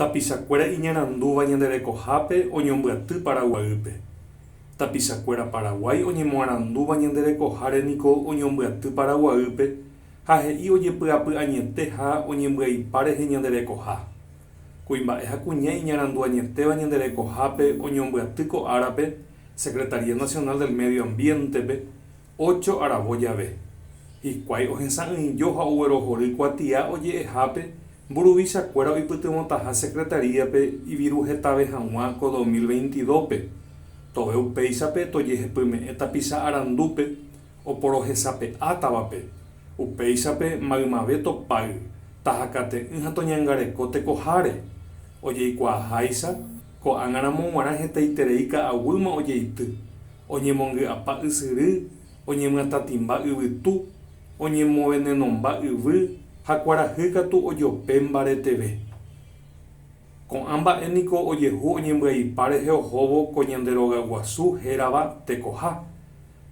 Tapichakuéra iñarandúva ñande rekohápe oñombyaty Paraguaýpe. Tapichakuéra Paraguái oñemoarandúva ñande rekoháre niko oñombyaty Paraguaýpe ha he'i ojepy'apy añete ha oñembyaipa rehe ñande rekoha. Kuimba'e ha kuña iñarandu añetéva ñande rekohápe oñombyaty ko árape Secretaría Nacional del Medio Ambiente-pe Ócho aravo jave, hikuái ohesa'ỹijo ha oguerohory kuatia oje'ehápe mburuvichakuéra oipytyvõtaha Secretaría-pe iviru hetave hag̃ua ko dos mil veintidópe, tove upéichape tojehepyme'ẽ tapicha arandúpe oporohesape'átavape, upéichape maymave topáy, tahakate'ỹ ha toñangareko tekoháre, ojeikuaaháicha ko'ág̃aramo g̃uarã hetaiterei ka'aguýma ojeity. Oñemongy'apa ysyry, oñemyatãtimba yvytu, oñemovenenomba yvy ha kuarahy katu ojope mbareteve. Ko'ã mba'e niko ojehu oñembyaipa rehe ohóvo ko ñande rogaguasu hérava tekoha.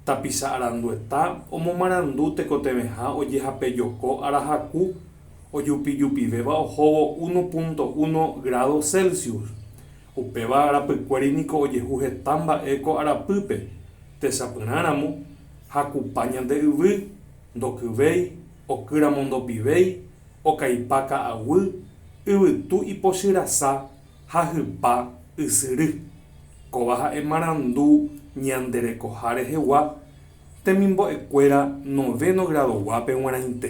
Tapicha arandueta omomarandu tekotevẽha ojehapejoko arahaku ojupijupivéva ohóvo uno punto uno grádo Celsius, Upéva arapykuéri niko ojehu heta mba'e ko arapýpe, techapyrã ramo, jakupa ñande yvy, ndokyvéi, oky ramo ndopivéi, okaipa ka'aguy, yvytu ipochyrasa, jahypa, ysyry. Kóva ha'e marandu ñande rekoha rehegua temimbo'ekuéra novéno gradoguápe g̃uarãite.